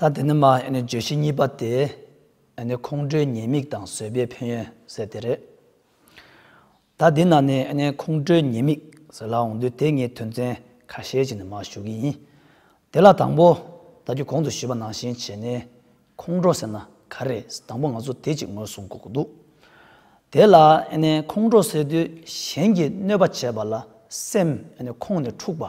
ད་དེ་ནི་མ་བརྗོད་གཞི་གཉིས་པ་སྟེ། ཁོང་ཁྲོའི་ཉེས་དམིགས་དང་བཟོད་པའི་ཕན་ཡོན་ཟེར་དེ་རེད། ད་འདི་ན་ནི་ཁོང་ཁྲོའི་ཉེས་དམིགས་ཟེར་ལ་འོང་དུས་དེ་ངས་དོན་ཚན་ཁ་ཤས་ཅིག་ནས་མར་ཞུ་གི་ཡིན། དེ་ལ་དང་པོ། ད་རྒྱུད་གོང་དུ་ཞུས་པ་ནང་བཞིན་བྱས་ནས་ཁོང་ཁྲོ་ཟེར་ན་ག་རེ། དང་པོ་ང་ཚོ་དེ་ཅིག་ངོས་བཟུང་དགོས་འདུག་དེ་ལ། ཁོང་ཁྲོ་ཟེར་དུས་གཞན་གྱིས་གནོད་པ་བྱས་པ་ལ་སེམས་ཁོང་ནས་འཁྲུགས་པ།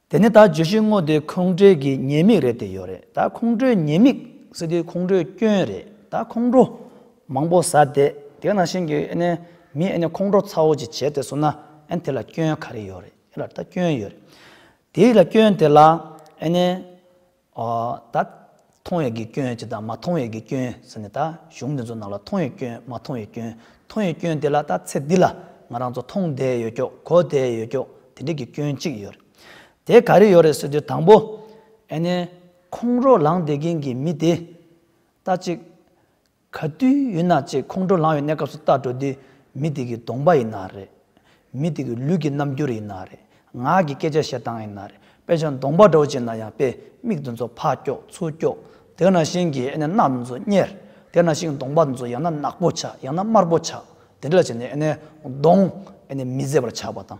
དེ་ནི་ད་བརྗོད་གཞི་དངོས་དེ་ཁོང་ཁྲོའི་གི་ཉེས་དམིགས་རེད་དེ་ཡོད་རེད་ད་ཁོང་ཁྲོའི་ཉེས་དམིགས་ཟེར་དུས་ཁོང་ཁྲོའི་སྐྱོན་རེད་ད་ཁོང་ཁྲོ་མང་པོ་ཟ་དེ་དེ་ནང་བཞིན་གི་ཨེ་ནས་མི་ཨེ་ནས་ཁོང་ཁྲོ་ཚ་བོ་ཅིག་བྱས་དེ་སོང་ན་ཨེ་དེ་ལ་སྐྱོན་ག་རེ་ཡོད་རེད་ཨེ་ལ་ད་སྐྱོན་ཡོད་རེད་དེ་ལ་སྐྱོན་དེ་ལ་ཨེ་ནས་ད། མཐོང་བའི་གི་སྐྱོན་ཅེས་དང་མ་མཐོང་བའི་གི་སྐྱོན་ཟེར་ནས་ད་གཞུང་འདི་ཚོ་ནང་ལ་མཐོང་བའི་སྐྱོན་མ་མཐོང་བའི་སྐྱོན་མཐོང་བའི་སྐྱོན་དེ་ལ་ད་ཚེ་འདི་ལ་ང་རང་ཚོ་མཐོང་བསྡད་ཡོད་ཀྱོག་གོ་བསྡད་ཡོད་ཀྱོག་དེ་འདྲའི་གི་སྐྱོན་གཅིག་ཡོད་རེད། དེ་ག་རེ་ཡོད་རེད་ཟེར་དུས་དང་པོ། ཨེ་ནས། ཁོང་རོགས་ལངས་བསྡད་མཁན་གྱི་མི་དེ། ད་ཅིག། ག་དུས་ཡོད་ན་ཅེས་ཁོང་ཁྲོ་ལངས་ཡོད་གནས་སྐབས་སུ་ལྟ་འགྲོ་དུས་མི་དེ་གི་གདོང་པ་ཡི་ན་རེ། མི་དེ་གི་ལུས་ཀྱི་རྣམ་འགྱུར་ཡི་ན་རེ། ངག་གི་སྐད་ཆ་བཤད་སྟངས་ཡི་ན་རེ་དཔེ་ཆ་མདོང་པ་འདྲ་བོ་བྱས་ན་ཡང་དཔེ་མིག་དེ་ཚོ་ཕག་སྐྱོགས་ཚུར་སྐྱོགས། དེ་ན་ཞིང་གི་ཨེ་ནས་རྣག་དེ་ཚོ་གཉེར། དེ་ན་ཞིང་གདོང་པ་དེ་ཚོ་ཡང་ན་ནག་པོ་ཆགས་ཡང་ན་དམར་པོ་ཆགས་དེ་འདྲ་ལ་བྱས་ནས་ཨེ་ནས་གདོང། ཨེ་ནས་མི་བཟད་པར་ཆགས་པ་དང།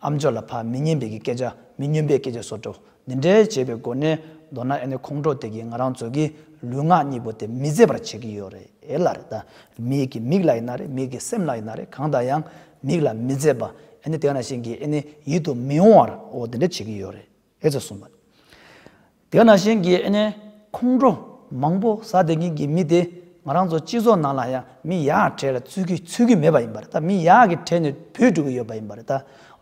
ཨམ་ཅོག་ལ་ཕ་མི་སྙན་པའི་གི་སྐད་ཆ་མི་སྙོན་པའི་སྐད་ཆ་སོགས་བྲོ་འདི་འདྲའི་བྱེད་པའི་སྒོ་ནས་མདོར་ན་ཨེ་ནི་ཁོང་ཁྲོ་དེ་གིས་ང་རང་ཚོ་གི་ལུས་ངག་གཉིས་པོ་དེ་མི་བཟད་པར་བྱེད་ཀྱི་ཡོད་རེད་ལ་རེད་ད། མིག་གི་མིག་ལ་ཡིན་ན་རེད་མིག་གི་སེམས་ལ་ཡིན་ན་རེད་གང་ལྟར་ཡང་མིག་ལ་མི་བཟད་པ་ཨེ་ནི་དེ་ག་ནང་བཞིན་གྱི་ཨེ་ནི་ཡིད་དུ་མི་འོང་བར་འོ་འདི་འདྲ་བྱེད་ཀྱི་ཡོད་རེད། ཨེ་ཙི་གསུངས་པ། དེ་ན་གཞན་གྱི་ཨེ་ནས་ཁོང་ཁྲོ་མང་པོ་ཟ་བདེ་ངེས་ཀྱི་མི་དེ་ང་རང་ཚོ་སྤྱི་ཚོགས་ནང་ལ་ཡང་མི་ཡག་གྲས་ལ་བརྩི་གི་ཚུལ་གྱི་མེད་པ་ཡིན་པ་རེད་ད་མི་ཡག་གི་གྲས་ནས་བུད་འགྲོ་གི་ཡོད་པ་ཡིན་པ་རེད་ད་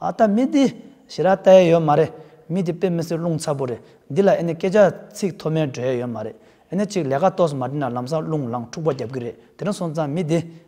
ཨ་ད་མི་འདི་ཞེ་རག་ལྟ་ཡས་ཡོད་མ་རེད་མི་འདི་དཔེ་མི་སྲིད་རླུང་ཚ་པོ་རེད་འདི་ལ་ཨེ་ནས་སྐད་ཆ་ཚིག་མཐོ་དམན་སྒྲོས་ཡས་ཡོད་མ་རེད་ཨེ་ནས་ཅིག་ལས་ཀ་ཏོགས་སུ་མ་བྲིས་ན་ལམ་སང་རླུང་ལངས་འཁྲུག་པ་རྒྱབ་གི་རེད་དེ་ནས་སོང་ཙང་མི་འདི།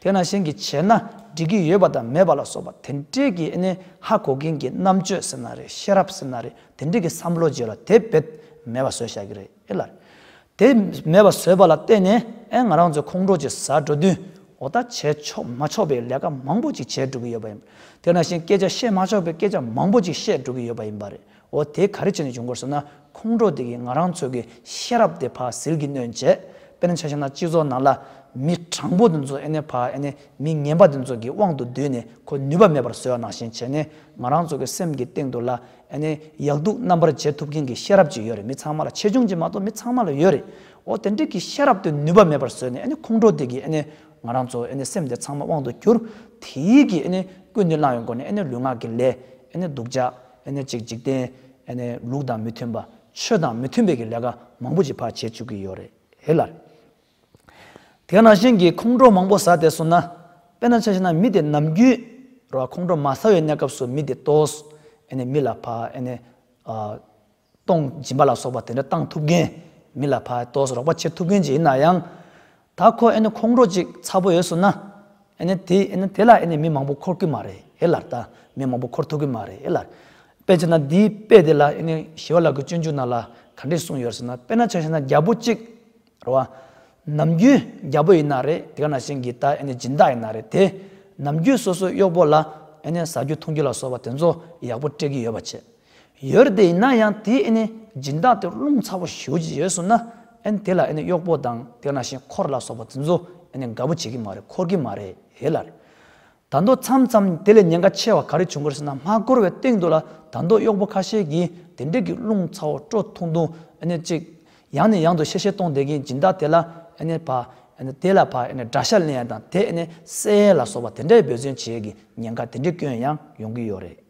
དེས་ན་གཞན་གྱིས་བྱས་ན་འགྲིག་གི་ཡོད་པ་དང་མེད་པ་ལ་སོགས་པ་དེ་འདྲས་ཀྱི་ཨེ་ནས་ཧ་གོ་མཁན་གྱི་རྣམ་དཔྱོད་ཟེར་ན་རེད་ཤེས་རབ་ཟེར་ན་རེད་དེ་འདྲས་ཀྱི་བསམ་བློ་བརྗེ་ལ་དེ་བེད་མེད་པ་བཟོས་བཞག་གི་རེད་ཨེ་ལར། དེ་མེད་པ་བཟོས་པ་ལ་བརྟེན་ནས་ཨེ་ང་རང་ཚོའི་ཁོང་ཁྲོ་ཆེ་ཟ་འགྲོ་དུས་འོ་ད་བྱས་ཆོག་མ་ཆོག་པའི་ལས་ཀ་མང་པོ་ཅིག་བྱས་འགྲོ་གི་ཡོད་པ་ཡིན། དེས་ན་གཞན་སྐད་ཆ་བཤད་མ་ཆོག་པའི་སྐད་ཆ་མང་པོ་ཅིག་བཤད་འགྲོ་གི་ཡོད་པ་ཡིན་པ་རེད། འོ་དེ་ག་རེ་བྱས་ནས་བྱུང་དགོས་ཟེར་ན་ཁོང་ཁྲོ་དེ་གིས་ང་རང་ཚོ་གི་ཤེས་རབ་དེ་ཕ་ཟིལ་གྱིས་གནོན་བྱས། དཔེར་ན་ཆ་ཤས་ན་སྤྱི་ཚོགས་ནང་ལ་མི་དྲང་པོ་དེ་ཚོ་ཨེ་ནས་ཕ་ཨེ་ནས་མི་ངན་པ་དེ་ཚོ་གི་དབང་དུ་བསྡུས་ནས་ཁོ་ནུས་པ་མེད་པར་བཟོས་བ་ནང་བཞིན་བྱས་ནས་ང་རང་ཚོ་གི་སེམས་ཀྱི་སྟེང་དུ་ལ་ཨེ་ནས་ཡག་སྡུག་རྣམ་པར་འབྱེད་ཐུབ་མཁན་གྱི་ཤེས་རབ་ཅིག་ཡོད་རེད་མི་ཚང་མ་ལ་ཆེ་ཆུང་གཅིག་མ་གཏོགས་མི་ཚང་མ་ལ་ཡོད་རེད། འོ་དེ་འདྲའི་གི་ཤེས་རབ་དེ་ནུས་པ་མེད་པར་བཟོས་ནས་ཨེ་ནས་ཁོང་ཁྲོ་དེ་གིས་ཨེ་ནས་ང་རང་ཚོ་ཨེ་ནས་སེམས་དེ་ཚང་མ་དབང་དུ་གྱུར་དེ་ཡིས་གིས་ཨེ་ནས་ཀུན་ནས་བླངས་ཡོད་མགོ་ནས་ཨེ་ནས་ལུས་ངག་གི་ལས་ཨེ་ནས་སྡུག་ཅག་གཅིག་འཇིག་རྟེན། ལུགས་དང་མི་མཐུན་པ། ཆོས་དང་མི་མཐུན་པའི་གི་ལས་ཀ་མང་པོ་ཅིག་ཕར་བྱེད་བཅུག་གི་ཡོད་རེད་ལ། དེ་ནང་བཞིན་གྱི་ཁོང་ཁྲོ་མང་པོ་ཟ་དེ་སོང་ན། དཔེར་ན་ཆ་ཤས་ན་མི་དེ་ནམ་རྒྱུན་རོ་ཁོང་ཁྲོ་མ་ཟ་བའི་གནས་སྐབས་སུ་མི་དེ་ལྟོས། མི་ལ་ཕ། སྟོང་སྦྱིན་པ་ལ་སོགས་པ་དེ་འདྲ་བཏང་ཐུབ་མཁན། མི་ལ་ཕ་ལྟོས་རོགས་པ་བྱེད་ཐུབ་མཁན་ཅིག་ཡིན་ན་ཡང། ད་ཁོ་ཨེ་ནི་ཁོང་ཁྲོ་ཅིག་ཚ་པོ་ཡོད་སོང་ན། ཨེ་ནི་དེ་ཨེ་ནི་དེ་ལ་ཨེ་ནི་མི་མང་པོ་འཁོར་གི་མ་རེད་ཨེ་ལར་ད། མི་མང་པོ་འཁོར་ཐུབ་གི་མ་རེད་ཨེ་ལར། དཔེ་ཆ་ན་འདིའི་དཔེ་དེ་ལ་ཨེ་ནི་ཞི་བ་ལགས་ཀྱི་སྤྱོད་འཇུག་ནང་ལ་ག་འདྲས་གསུངས་ཡོད་སོང་ན་དཔེ་ན་ཆ་ཤས་ན་རྒྱ་པོ་གཅིག་རེད་བ། ནམ་རྒྱུན་རྒྱ་པོ་ཡིན་ན་རེད་དེ་ག་ན་ཞིང་གི་ད་ཨེ་ནི་སྦྱིན་བདག་ཡིན་ན་རེད་དེ། ནམ་རྒྱུན་སོ་སོའི་གཡོག་པོ་ལ་ཨེ་ནི་ཟ་རྒྱུ་འཐུང་རྒྱུ་ལ་སོགས་པ་དེ་ཚོ་ཡག་པོ་སྤྲད་ཀྱི་ཡོད་པ་བྱེད། ཡོད་དེ་ཡིན་ན་ཡང་དེའི་སྦྱིན་བདག་དེ་རླུང་ཚ་པོ་ཞུ་རྒྱུ་ཡོད་སོང་ན་དེ་ལ་གཡོག་པོ་དང་དེ་ན་བཞིན་འཁོར་ལ་སོགས་པ་དེ་ཚོ་དགའ་པོ་བྱེད་ཀྱི་མ་རེད་འཁོར་གྱི་མ་རེད་ལ། ད་མདོ་མཚམས་ཙམ་དེ་ལས་ཉེན་ཁ་ཆེ་བ་ག་རེ་བྱུང་གི་རེད་ཟེར་ན་མ་འཁོར་བའི་སྟེང་དུ་ལ་ད་མདོ་གཡོག་པོ་ཁ་ཤས་ཀྱིས་དེ་འདྲིས་ཀྱི་རླུང་ཚ་བོ་སྤྲོ་ཐུང་ཐུང་ཅིག་ཡང་ནས་ཡང་དུ་བཤད་བཤད་གཏོང་བསྡད་ཀྱིན་སྦྱིན་བདག་དེ་ལ་བ་དེ་ལ་བ་དགྲ་ཤ་ལེན་ཡ་དང་དེ་གསལ་ཡས་ལ་སོགས་པ་དེ་འདྲའི་འབོད་བརྩོན་བྱེད་ཀྱི་ཉེན་ཁ་དེ་འདྲིས་སྐྱོན་ཡང་ཡོང་གི་ཡོད་རེད།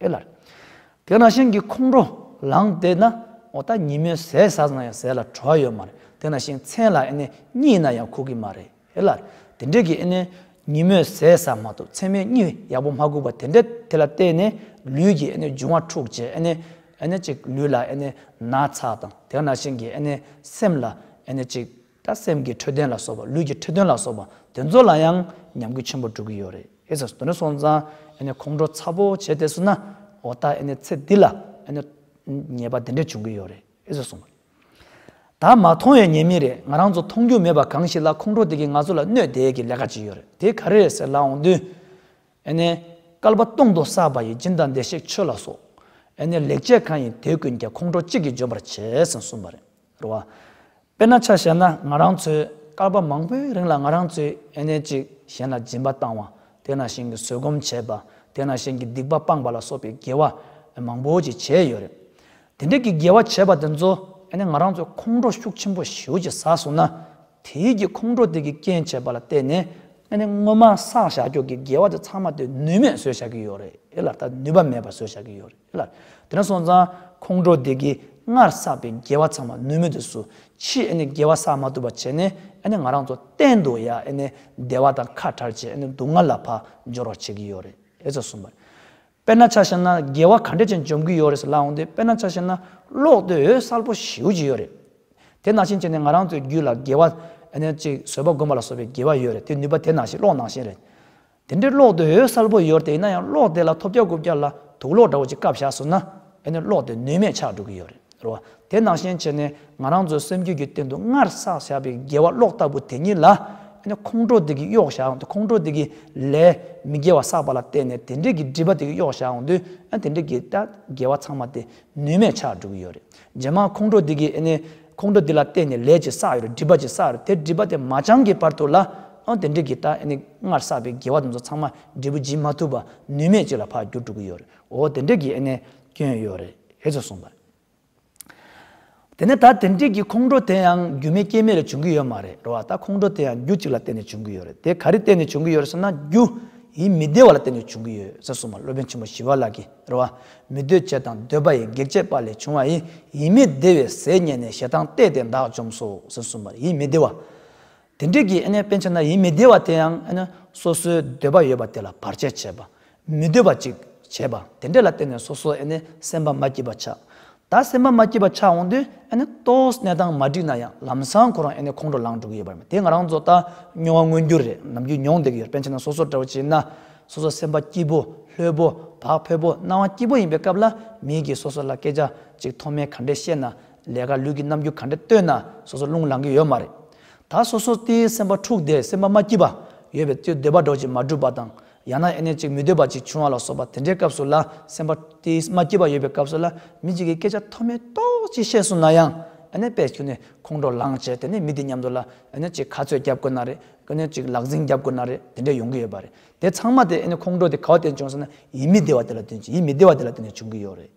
ཨེ་ལར། དེ་ན་ཤིང་གི་ཁོང་ཁྲོ་ལངས་བལྟས་ན་ཨོ་ད་ཉི་མའི་ཟས་ཟ་ཟ་ན་ཡང་ཟས་ལ་བྲོ་བ་ཡོད་མ་རེད་དེ་ན་ཤིང་མཚན་ལ་ཨེ་ནས་གཉིད་ན་ཡང་ཁུག་གི་མ་རེད་ཨེ་ལར། དེ་འདྲས་ཀྱི་ཨེ་ནས་ཉི་མོས་ཟས་ཟ་མ་ཐུབ་མཚན་མའི་གཉིད་ཡག་པོ་མ་ཁུག་པ་དེ་འདྲས་དེ་ལ་བལྟས་ནས་ལུས་ཀྱི་ཨེ་ནས་འབྱུང་བ་འཁྲུག་བྱས་ཨེ་ནས་ཨེ་ནས་ཅིག་ལུས་ལ་ཨེ་ནས་ན་ཚ་དང་དེ་ན་ཤིང་གི་ཨེ་ནས་སེམས་ལ་ཨེ་ནས་ཅིག། ད་སེམས་ཀྱི་འཕྲོད་བསྟེན་ལ་སོགས་པ་ལུས་ཀྱི་འཕྲོད་བསྟེན་ལ་སོགས་པ་དེ་ཚོ་ལ་ཡང་ཉམས་རྒུད་ཆེན་པོ་འགྲོ་གི་ཡོད་རེད་ཨེ་ཟེར་དོན་སོང་ཙང་ཁོང་ཁྲོ་ཚ་པོ་བྱས་ཏེ་སོང་ན་འོ་ད་ཚེ་འདི་ལ་ཉེས་པ་དེ་འདྲ་བྱུང་གི་ཡོད་རེད་ཨེ་ཟེར་སོང། ད་མ་མཐོང་བའི་ཉེས་མིང་རེད་ང་རང་ཚོ་མཐོང་རྒྱུ་མེད་པ་གང་ཞིག་ལ་ཁོང་ཁྲོ་དེ་གིས་ང་ཚོ་ལ་གནོད་དེ་གི་ལས་ཀ་བྱས་ཡོད་རེད་དེ་ག་རེ་རེད་ཟེར་ལ་འོང་དུས། སྐལ་པ་སྟོང་དུ་བསགས་པ་ཡི་སྦྱིན་བདག་བདེ་གཤེགས་ཆོས་ལ་སོགས། ལེགས་བྱས་གང་ཡིན་དེ་ཀུན་ཀྱང་ཁོང་ཁྲོ་གཅིག་གིས་འཇོམས་པར་བྱས་ཟིན་གསུངས་པ་རེད། རུ་བ། དཔེར་ན་ཆ་བཤད་ན་ང་རང་ཚོས་སྐར་པ་མང་པོའི་རིང་ལ་ང་རང་ཚོས་ཨེ་ནས་ཅིག་གཞན་ལ་སྦྱིན་པ་བཏང་བ། དེ་ན་གཞན་གྱི་བཟོད་སྒོམ་བྱས་པ། དེ་ན་གཞན་གྱི་སྡིག་པ་སྤངས་པ་ལ་སོགས་པའི་དགེ་བ་མང་པོ་ཅིག་བྱས་ཡོད་རེད། དེ་འདྲ་གྱི་དགེ་བ་བྱས་པ་དེ་ཚོ་ཨེ་ནས་ང་རང་ཚོས་ཁོང་ཁྲོ་ཤུགས་ཆེན་པོ་ཞུ་ཅི་ཟ་སོང་ན། དེའི་རྒྱུ་ཁོང་ཁྲོ་དེ་གི་རྐྱེན་བྱས་པ་ལ་བལྟས་ནས་ཨེ་ནས་སྔོན་མ་བསགས་བཞག་འཁྱོག་གི་དགེ་བ་དེ་ཚང་མ་དེ་ནུས་མེད་བཟོས་བཞག་གི་ཡོད་རེད་ལ་ད་ནུས་པ་མེད་པ་བཟོས་བཞག་གི་ཡོད་རེད། ལ། དེ་ནས་སོང་ཙང་ཁོང་ཁྲོ་དེ་གིས་སྔར་བསགས་པའི་དགེ་བ་ཚང་མ་ནུས་མེད་དུ་སུ་ཕྱིས་ཨེ་ནས་དགེ་བ་བསགས་མ་ཐུབ་པ་བྱས་ནས་ཨེ་ནས་ང་རང་ཚོ་གཏན་དུ་ཡ་ཨེ་ནས་བདེ་བ་དང་ཁ་བྲལ་བྱས་ཨེ་ནས་སྡུག་བསྔལ་ལ་བག་འབྱོར་བར་བྱེད་ཀྱི་ཡོད་རེད་ཨེ་ཙོ་གསུངས་པ། དཔེར་ན་ཆ་ཤས་ན་དགེ་བ་ག་འདྲས་ཅན་འཇོམས་ཀྱི་ཡོད་རེད་ཟེར་ལབ་འོང་སྟེ་དཔེར་ན་ཆ་ཤས་ན་གློག་རྡུལ་འོད་གསལ་པོ་ཞིའུ་ཅིག་ཡོད་རེད། དེ་ནང་བཞིན་བྱས་ནས་ང་རང་ཚོའི་རྒྱུད་ལ་དགེ་བ་ཨེ་ནས་ཅིག་བཟོད་པ་སྒོམ་པ་ལ་སོགས་པའི་དགེ་བ་ཡོད་རེད་དེ་ནུས་པ་དེ་ནང་བཞིན་གློག་ནང་བཞིན་རེད། དེ་འདྲའི་གློག་དེ་འོད་གསལ་པོ་ཡོད་དེ་ཡིན་ན་ཡང་གློག་དེ་ལ་ཐོབ་བརྒྱ་དགུ་བརྒྱ་ལ་དུག་གློག་འདྲ་བོ་ཅིག་བཀབ་བཞག་ཟུག་ན་ཨེ་ནི་གློག་དེ་ནུས་མེད་ཆགས་འགྲོ་གི་ཡོད་རེད་བ་དེ་ནང་བཞིན་བྱས་ནས་ང་རང་ཚོའི་སེམས་རྒྱུད་ཀྱི་སྟེང་དུ་སྔར་བསགས་བཞག་པའི་དགེ་བ་གློག་ལྟ་བུ་དེ་ཉིད་ལ་ཨེ་ནི་ཁོང་ཁྲོ་དེ་གིས་གཡོག་བཞག་འོང་དུས་ཁོང་ཁྲོ་དེ་གིས་ལས་མི་དགེ་བ་བསགས་པ་ལ་བརྟེན་ནས་དེ་འདྲས་ཀྱི་སྒྲིབ་པ་དེ་གིས་གཡོག་བཞག་འོང་དུས་ཨེ་ནི་དེ་འདྲས་ཀྱི་དགེ་བ་ཚང་མ་དེ་ནུས་མེད་ཆགས་འགྲོ་གི་ཡོད་རེད། རྗེས་མ་ཁོང་ཁྲོ་འདི་གིས་ཨེ་ནས། ཁོང་ཁྲོ་འདི་ལ་བརྟེན་ནས་ལས་ཀྱི་ས་ཡོད་རེད་སྒྲིབ་པ་ཀྱི་ས་ཡོད་དེ་སྒྲིབ་པ་དེ་མ་བྱང་གི་བར་དུ་ལ་ཨང་དེ་འདྲས་ཀྱིས་ད་ཨེ་ནས་སྔར་བསགས་པའི་དགེ་བ་དེ་ཚོ་ཚང་མ་འབྲས་བུ་སྦྱིན་མ་ཐུབ་པ་ནུས་མེད་ཅིག་ལ་འཕགས་རྒྱུར་འགྲོ་གི་ཡོད་རེད་འོ་དེ་འདྲས་ཀྱིས་ཨེ་ནས་སྐྱོན་ཡོད་རེད་ཨེ་ཙི་གསུངས་པ་རེད། དེ་ནས་ད་དེ་འདྲས་ཀྱིས་ཁོང་ཁྲོ་དེ་ཡང་རྒྱུ་མེད་རྐྱེན་མེད་ལས་བྱུང་གི་ཡོད་མ་རེད་རོ་ཨ་ད་ཁོང་ཁྲོ་དེ་ཡང་རྒྱུ་གཅིག་ལ་བརྟེན་ནས་བྱུང་གི་ཡོད་རེད་དེ་ག་རེ་བརྟེན་ནས་བྱུང་གི་ཡོད་རེད་ཟེར་ན་རྒྱུཡི་མི་བདེ་བ་ལ་བརྟེན་ནས་བྱུང་གི་ཡོད་ཨེ་ཙི་གསུངས་པ་སློབ་དཔོན་ཆེན་པོ་ཞི་བ་ལགས་ཀྱིས། རེ་བ། མི་འདོད་བཅས་དང་འདོད་པ་ཡི་གེགས་བྱེད་པ་ལས་བྱུང་བ་ཡི་ཡིད་མི་བདེ་བའི་ཟས་རྙེད་ནས་ཞེ་སྡང་བརྟས་ཏེ་བདག་བཅོམ་སོ་ཟེར་གསུངས་པར་ཡིད་མི་བདེ་བ། དེ་འབྲེལ་གྱི་དཔེ་ཆ་ན་ཡིད་མི་བདེ་བ་དེ་ཡང་སོ་སོའི་འདོད་པ་ཡོད་པ་དེ་ལ་བར་ཆད་བྱེད་པ། མི་འདོད་པ་ཅིག་བྱེད་པ་དེ་འདྲ་ལ་བརྟེན་ནས་སོ་སོ་སེམས་པ་མ་སྐྱིད་པ་ཆགས། ད་སེམས་པ་མ་སྐྱིད་པ་ཆགས་འོང་དུས་ཨ་ནི་ལྟོས་གནས་སྟངས་མ་འགྲིག་ན་ཡང་ལམ་སང་ཁོ་རང་ཨ་ནི་ཁོང་ཁྲོ་ལངས་འགྲོ་གི་ཡོད་པ་རེད་དེ་ང་རང་ཚོ་ད་སྨྱོ་བ་མངོན་གྱུར་རེད་ནམ་རྒྱུས་མྱོང་བསྡད་ཀྱི་ཡོད་པན་ཆེན་ན་སོ་སོར་འདྲ་བོ་བྱས་ན་སོ་སོ་སེམས་པ་སྐྱིད་པོ་ལྷོད་པོ་བག་ཕེབས་པོ་སྣང་བ་སྐྱིད་པོ་ཡིན་པའི་སྐབས་ལ་མིའི་གིས་སོ་སོ་ལ་སྐད་ཆ་གཅིག་མཐོ་དམན་ག་འདྲས་བཤད་ན་ལས་ཀ་ལུས་ཀྱི་རྣམ་འགྱུར་ག་འདྲས་སྟོན་ན་སོ་སོ་རླུང་ལང་གི་ཡོད་མ་རེད་ད་སོ་སོ་སྟེ་སེམས་པ་འཁྲུགས་བསྡད་སེམས་པ་མ་སྐྱིད་པ་ཡོད་པའི་ཚོས་འདོད་པ་སྒྲོག་ཅིག་མ་བསྒྲུབ་པ་དང་ཡང་ན་ཨེ་ནས་ཅིག་མི་སྡོད་པ་ཅིག་བྱུང་བ་ལ་སོགས་པ་དེ་འདྲའི་སྐབས་སུ་ལ་སེམས་པ་དེ་མ་སྐྱེས་པ་ཡོད་པའི་སྐབས་སུ་ལ་མི་གཅིག་གིས་སྐད་ཆ་མཐོ་དམན་ཏོག་ཅིག་བཤད་སོང་ན་ཡང་ཨེ་ནས་པས་ཁྱོད་ནས་ཁོང་ཁྲོ་ལངས་བྱས་དེ་ནས་མི་དེ་མཉམ་དུ་ལ་ཨེ་ནས་ཅིག་ག་ཚོད་བརྒྱབ་དགོས་ན་རེད་ཨེ་ནས་ཅིག་ལག་འཛིང་བརྒྱབ་དགོས་ན་རེད་དེ་འདྲས་ཡོང་གི་ཡོད་པ་རེད་དེ་ཚང་མ་དེ་ཨེ་ནས་ཁོང་ཁྲོ་དེ་ག་བ་དེ་བྱུང་སོང་ན་ཡིད་མི་བདེ་བ་དེ་ལ་བསྟུན་ཅིང་ཡིད་མི་བདེ་བ་དེ་ལ་བསྟུན་ནས་བྱུང་གི་ཡོད་རེད།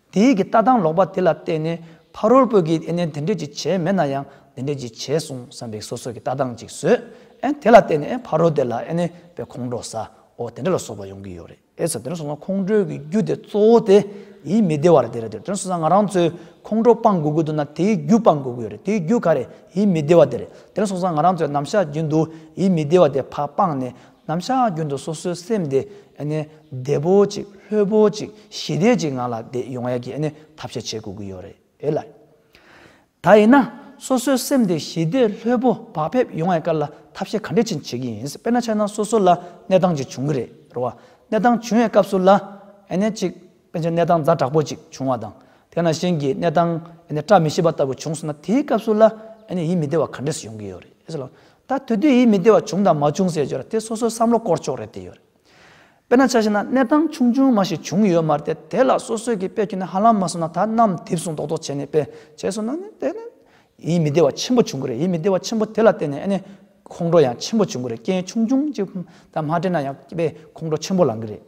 དེ་ཡིག་གི་ལྟ་སྟངས་ལོག་པ་དེ་ལ་བལྟས་ནས་ཕ་རོལ་པོས་ཀྱིས་ཨེ་ནས་དེ་འདྲས་ཀྱིས་བྱས་མེད་ན་ཡང་དེ་འདྲས་ཀྱིས་བྱས་གསུངས་བསམ་པའི་སོ་སོ་ཀྱི་ལྟ་སྟངས་ཅིག་བཟོས་ཨེ་དེ་ལ་བལྟས་ནས་ཨེ་ཕ་རོལ་དེ་ལ་ཨེ་ནས་པའི་ཁོང་ཁྲོ་ཟ་འོ་དེ་འདྲ་ལ་སོགས་པ་ཡོང་གི་ཡོད་རེད་ཨེ་ཟེར་དེ་འདྲ་སོང་ཙང་ཁོང་ཁྲོའི་གི་རྒྱུ་དེ་གཙོ་བོ་དེ་ཡིག་མི་བདེ་བ་རེད་དེ་རེད་དེ་འདྲ་སོང་ཙང་ང་རང་ཚོའི་ཁོང་ཁྲོ་སྤང་དགོས་ཀྱི་འདུག་ན་དེ་ཡིག་རྒྱུ་སྤང་དགོས་ཀྱི་ཡོད་རེད་དེ་ཡིག་རྒྱུ་ག་རེད་ཡིག་མི་བདེ་བ་དེ་རེད་དེ་འདྲ་སོང་ཙང་ང་རང་ཚོའི་ནམ་ཞག་རྒྱུན་དུ་ཡིག་མི་བདེ་བ་དེ་ཕ་སྤངས་ནས་ནམ་ཞག་རྒྱུན་དུ་སོ་སོའི་སེམས་དེ་བདེ་པོ་ཅིག་ལྷོད་པོ་ཅིག་ཞི་བདེ་ཅིག་ངང་ལ་བསྡད་ཡོང་ཡག་གི་ཐབས་ཤེས་བྱེད་དགོས་ཀྱི་ཡོད་རེད་ལ། ད་ཡིན་ན་སོ་སོའི་སེམས་དེ་ཞི་བདེ་ལྷོད་པོ་བག་ཕེབས་ཡོང་ཡག་སྐོར་ལ་ཐབས་ཤེས་ག་འདྲས་ཕྱིན་བྱེད་ཀྱི་ཡིན་དཔེར་ན་ཆ་ན་སོ་སོ་ལ་གནས་སྟངས་ཅིག་བྱུང་གི་རེད་རོ། གནས་སྟངས་བྱུང་བའི་སྐབས་སུ་ལ། ཅིག། དཔེ་ཆའི་གནས་སྟངས་རྫ་དྲག་པོ་ཅིག་བྱུང་བ་དང། དེ་ན་གཞན་གྱིས་གནས་སྟངས་བཀྲ་མི་ཤིས་པ་ལྟ་བུ་བྱུང་སོང་ན་དེའི་སྐབས་སུ་ལ་ཡིད་མི་བདེ་བ་ག་འདྲས་སུ་ཡོང་གི་ཡོད་རེད་ཟེར། ད་དུས་དུས་ཡིད་མི་བདེ་བ་བྱུང་དང་མ་བྱུང་ཟེར་རྒྱུར་དེ་སོ་སོའི་བསམ་བློ་སྐོར་ཕྱོགས་རེད་དེ་ཡོད་རེད། དཔེར་ན་ཆ་ཤས་ན་གནས་སྟངས་ཆུང་ཆུང་མ་ཞིག་བྱུང་ཡོད་མ་རེད་དེ་ལ་སོ་སོས་ཀྱིས་དཔེ་ཁྱོན་ནས་ཧ་ལམ་མ་སོང་ན་ད་ནམ་དེབ་བཟུང་རྡོག་རྡོག་བྱས་ནས་དཔེ་བྱས་སོང་ན་ནི་དེ་ནི་ཡིད་མི་བདེ་བ་ཆེན་པོ་བྱུང་གི་རེད་ཡིད་མི་བདེ་བ་ཆེན་པོ་དེ་ལ་བརྟེན་ནས་ཨ་ནེ་ཁོང་ཁྲོ་ཡང་ཆེན་པོ་བྱུང་གི་རེད་རྐྱེན་ཆུང་ཆུང་གཅིག་དང་མ་འབྲེལ་ན་ཡང་སྐྱིད་པའི་ཁོང་ཁྲོ་ཆེན་པོ་ལངས་གི་རེད།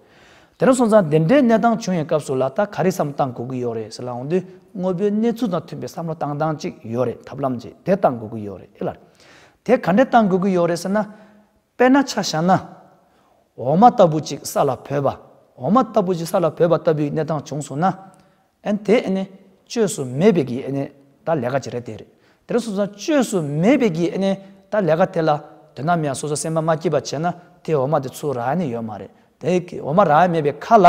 དེ་རིང་སོང་ཙང་དེ་འདྲའི་གནས་སྟངས་བྱུང་ཡོད་སྐབས་སུ་ལ་ལྟ་ག་རེ་བསམ་སྟངས་དགོས་ཀྱི་ཡོད་རེད་ཟེར་ལ་འོང་དུས་དངོས་པོའི་གནས་ཚུལ་དང་མཐུན་པའི་བསམ་བློ་བཏང་སྟངས་གཅིག་ཡོད་རེད་ཐབས་ལམ་གཅིག་དེ་བཏང་དགོས་ཀྱི་ཡོད་རེད་ཨེ་ལར། དེ་ག་འདྲས་བཏང་དགོས་ཀྱི་ཡོད་རེད་ཟེར་ན། དཔེར་ན་ཆ་བཞག་ན། འོ་མ་ལྟ་བུ་གཅིག་ས་ལ་བུད་པ་འོ་མ་ལྟ་བུ་གཅིག་ས་ལ་བུད་པ་ལྟ་བུའི་གནས་སྟངས་བྱུང་སོང་ན། ཨན་དེ་ཨན་བཅོས་སུ་མེད་པའི་གི་ཨན་ད་ལས་ཀ་ཇི་རེད་དེ་རེད་དེར་སོ་སོ་བཅོས་སུ་མེད་པའི་གི་ཨན་ད་ལས་ཀ་དེ་ལ་དོན་དམ་ཡང་སོ་སོ་སེམས་པ་མ་སྐྱིད་པ་བྱས་ན་དེ་འོ་མ་དེ་ཚུ་ར་ནི་ཡོད་མ་རེད་དེ་གི་འོ་མ་ར་མེད་པའི་ཁ་ལ་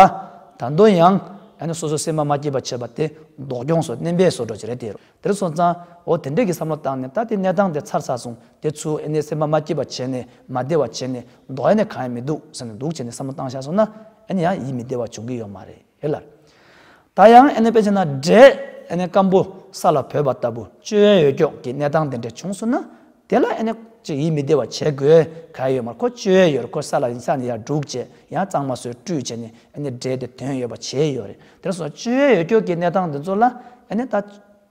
ད་དོན་ཡང་ཨན་སོ་སོ་སེམས་པ་མ་སྐྱིད་པ་བྱས་པ་དེ་མདོག་སྐྱོང་སོ་བསྣན་པས་སོ་འགྲོ་ཇི་རེད་དེ་རེད་དེར་སོ་ཙང་འོ་དེ་འདྲས་གི་བསམ་བློ་བཏང་ནས་ད་དེ་གནས་སྟངས་དེ་ཚར་ཚར་སོང་དེ་ཚུ་ཨན་སེམས་པ་མ་སྐྱིད་པ་བྱས་ནས་མ་བདེ་བ་བྱས་ནས་མདོག་ཨན་གང་ཡང་མི་འདུག་བསམ་ནས་འདུག་བྱས་ནས་བསམ་བློ་བཏང་བཞག་སོང་ན་ཨན་ཡང་ཡིད་མི་བདེ་བ་འབྱུང་གི་ཡོད་མ་རེད། ཧེ་ལར། ད་ཡང་ཨ་ནེ་པེ་ཆེ་ན་སྒྲས་ཨ་ནེ་སྐམ་པོ་ས་ལ་བོས་པ་ལྟ་བུ་སྤྱོད་ཡོན་ཡོད་ཀྱོག་གི་གནས་སྟངས་དེ་འདྲ་བྱུང་སོང་ན་དེ་ལ་ཨ་ནེ་ཅིག་ཡིད་མི་བདེ་བ་བྱེད་དགོས་གལ་ཡོད་མར་ཁོ་སྤྱོད་ཡོན་ཡོད་རེད་ཁོ་ས་ལ་ཡིན་ས་ནས་ཡར་འབྲུག་བྱས་ཡང་གཙང་མ་སོས་བཀྲུས་བྱས་ནས་ཨ་ནེ་སྒྲས་དེ་དོན་ཡོད་པ་བྱས་ཡོད་རེད་དེར་སོང་སྤྱོད་ཡོན་ཡོད་ཀྱོག་གི་གནས་སྟངས་འདི་ཚོ་ལ་ཨ་ནེ་ད།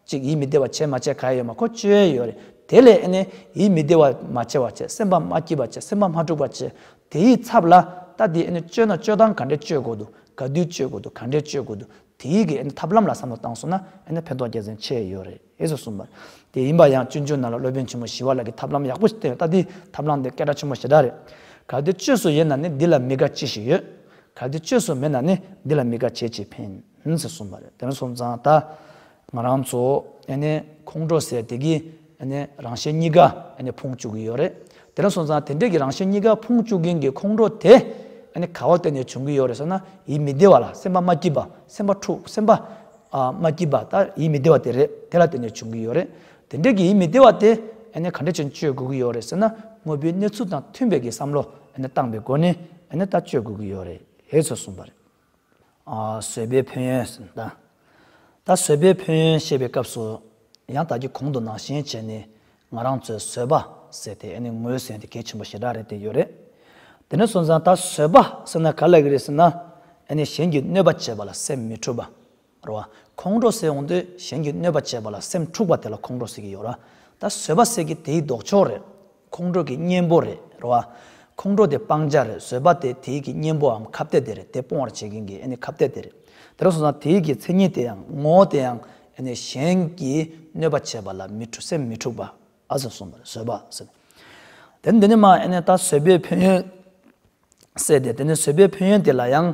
ཅིག་ཡིད་མི་བདེ་བ་བྱེད་མ་བྱེད་ག་ཡོད་མ་ཁོ་བཅོལ་ཡོད་རེད་དེ་ལས་ཨེ་ནས་ཡིད་མི་བདེ་བ་མ་བྱེད་བ་བྱེད་སེམས་པ་མ་སྐྱིད་བ་བྱེད་སེམས་པ་མ་འཁྲུག་པ་བྱེད་དེ་ཡི་ཚབ་ལ་ལྟ་དེ་ཨེ་ནས་བཅོལ་ན་བཅོལ་སྟངས་ག་འདྲས་བཅོལ་དགོས་འདུག་ག་དུས་བཅོལ་དགོས་འདུག་ག་འདྲས་བཅོལ་དགོས་འདུག་དེ་ཡི་གི་ཨེ་ནས་ཐབས་ལམ་ལ་བསམ་བློ་བཏང་སོང་ན་ཨེ་ནས་ཕན་ཐོགས་རྒྱ་ཚན་ཆེ་ཡོད་རེད་ཨེ་ཟེར་གསུངས་པ་རེད་དེ་ཡིན་པ་ཡང་བཅོལ་འཇུག་ནང་ལ་སློབ་དཔོན་ཆེན་མོ་ཞི་བ་ལགས་ཀྱི་ཐབས་ལམ་ཡག་པོ་ཞིག་བསྟན་ཡོད་ལྟ་དེ་ཐབས་ལམ་དེ་སྐད་གྲགས་ཆེན་པོ་ཞེ་དྲག་རེད་ག་དུས་བཅོས་སུ་ཡོད་ན་ནི་འདི་ལ་མི་དགའ་ཅི་ཞིག་ཡོད་ག་དུས་བཅོས་སུ་མེད་ན་ནི་འདི་ལ་མི་དགའ་བྱེད་ཅིག་ཕན། ཨིན་ཟེར་སོང་བ་རེད་དེ་ནས་སོང་ཙང་ད་ང་རང་ཚོ་ཁོང་ཁྲོ་སེ་དེ་གི་རང་བཞིན་གཉིས་ཀ་ཕུང་བཅུག་གི་ཡོད་རེད་དེ་ནས་སོང་ཙང་དེ་འདྲས་ཀྱི་རང་བཞིན་གཉིས་ཀ་ཕུང་བཅུག་མཁན་གྱི་ཁོང་ཁྲོ་དེ་ག་བ་ལྟེ་ནས་བྱུང་གི་ཡོད་རེད་ཟེར་ན་ཡིད་མི་བདེ་བ་ལ་སེམས་པ་མ་སྐྱིད་པ་སེམས་པ་འཁྲུག་སེམས་པ་མ་སྐྱིད་པ་ད་ཡིད་མི་བདེ་བ་དེ་རེད་དེ་ལ་ལྟེ་ནས་བྱུང་གི་ཡོད་རེད་དེ་འདྲས་ཀྱི་ཡིད་མི་བདེ་བ་དེ་ག་འདྲས་ཅན་བཅོས་དགོས་ཀྱི་ཡོད་རེད་ཟེར་ན་དངོས་པོའི་གནས་ཚུལ་དང་མཐུན་པའི་གི་བསམ་བློ་བཏང་པའི་སྒོ་ནས་ད་བཅོས་དགོས་ཀྱི་ཡོད་རེད་ཟེར་སོང་བ་རེད། བཟོད་པའི་ཕན་ཡོན། ད་བཟོད་པའི་ཕན་ཡོན་བཤད་པའི་སྐབས་སུ། ཡང་དག་གི་གོང་དུ་ནང་བཞིན་བྱས་ནས་ང་རང་ཚོས་བཟོད་པ་ཟེར་ཏེ་ནི་ངོས་ཟིན་དེ་གལ་ཆེན་པོ་ཞེ་དྲག་རེད་དེ་ཡོད་རེད། དེ་ནས་སོང་ཙང་ད་བཟོད་པ་ཟེར་ན་ག་ལ་ཡི་རེད་ཟེར་ན། ནི་གཞན་གྱིས་གནོད་པ་བྱས་པ་ལ་སེམས་མི་འཁྲུལ་པ། རོ། ཁོང་ཁྲོ་སེལ་འོང་དུས་གཞན་གྱིས་གནོད་པ་བྱས་པ་ལ་སེམས་འཁྲུགས་པ་དེ་ལ་ཁོང་ཁྲོ་སེལ་གྱི་ཡོད་ར། ད་བཟོད་པ་སེལ་གྱི་དེའི་ལྡོག་ཕྱོགས་རེད། ཁོང་ཁྲོ་གི་གཉེན་པོ་རེད་རོ། ཁོང་ཁྲོ་དེ་སྤང་བྱ་རེད་བཟོད་པ་དེ་དེའི་གི་གཉེན་པོའམ་ཁ་བརྡའི་དེ་རེད་དེ་སྤོང་བར་བྱེད་མཁན་གྱི་ཨེ་ནི་ཁ་བརྡའི་དེ་རེད། དེ་རུ་སོང་ཙང་དེའི་གི་མཚན་ཉིད་དེ་ཡང་ངོ་བོ་དེ་ཡང་ཨེ་ནི་གཞན་གྱིས་གནོད་པ་བྱས་པ་ལ་མི་འཁྲུ་སེམས་མི་འཁྲུགས་པ་ཨ་ཟེར་གསུངས་པ་རེད་བཟོད་པ་སེལ། དེ་ནི་འདི་ནི་མ་ཨེ་ནི་ད་བཟོད་པའི་ཕན་ཡོན་སེལ་ཏེ་དེ་ནི་བཟོད་པའི་ཕན་ཡོན་དེ་ལ་ཡང།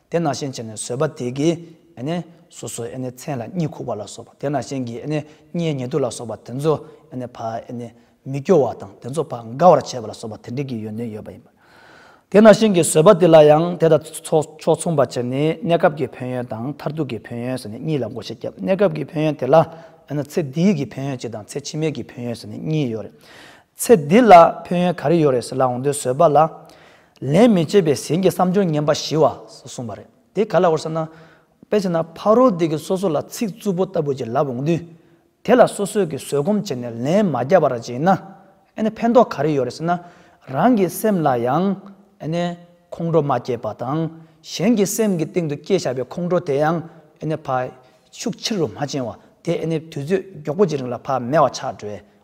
དེ་ནང་བཞིན་བྱས་ནས་བཟོད་པ་དེ་གིས་སོ་སོའི་མཚན་ལ་གཉིད་ཁུག་པ་ལ་སོགས་པ་དེ་ནང་བཞིན་གྱི་མཉེས་ཉེ་དུ་ལ་སོགས་པ་དེ་ཚོ་བ་མི་སྐྱོ་བ་དང་དེ་ཚོ་བ་དགའ་བར་བྱེད་པ་ལ་སོགས་པ་དེ་འདྲིས་ཀྱི་ཡོན་ཏན་ཡོད་པ་ཡིན། དེ་ནང་བཞིན་གྱི་བཟོད་པ་དེ་ལ་ཡང་དེ་དང་ཕྱོགས་མཚུངས་པར་བྱས་ནས་གནས་སྐབས་ཀྱི་ཕན་ཡོན་དང་མཐར་ཐུག་གི་ཕན་ཡོན་གཉིས་ལ་འགོ་བྱེད་ཀྱང་གནས་སྐབས་ཀྱི་ཕན་ཡོན་དེ་ལ་ཚེ་འདིའི་གྱི་ཕན་ཡོན་གཅིག་དང་ཚེ་ཕྱི་མའི་གྱི་ཕན་ཡོན་གཉིས་ཡོད་རེད། ཚེ་འདི་ལ་ཕན་ཡོན་ག་རེ་ཡོད་རེད་ཟེར་ལ་འོང་དུས་བཟོད་པ་ལ། ལན་མི་བྱེད་པའི་ཟིན་གྱི་བསམ་སྦྱོར་ངན་པ་ཞི་བ་སོགས་གསུངས་པ་རེད། དེ་ག་ལ་འོར་ཟེར་ན། དཔེར་བྱས་ན་ཕ་རོལ་དེ་གིས་སོ་སོ་ལ་ཚིག་རྩུབ་པོ་ལྟ་བུ་ཅིག་ལབ་འོང་དུས། དེ་ལ་སོ་སོས་ཀྱིས་བཟོད་སྒོམ་བྱས་ནས་ལན་མ་རྒྱབ་པར་བརྗེད་ན། ཨ་ནི་ཕན་ཐོགས་ག་རེ་ཡོད་རེད་ཟེར་ན། རང་གི་སེམས་ལ་ཡང། ཨ་ནི། ཁོང་ཁྲོ་མ་སྐྱེས་པ་དང། གཞན་གྱི་སེམས་ཀྱི་སྟེང་དུ་སྐྱེས་བཞག་པའི་ཁོང་ཁྲོ་དེ་ཡང། ཨ་ནི། ཕ། ཤུགས་ཆེ་རུ་མ་ཕྱིན་བར་དེ་ཨ་ནི་དུས་ཚོད་མགྱོགས་པོ་གཅིག་རིང་ལ་ཕ་མེད་བ་ཆགས་འགྲོའི་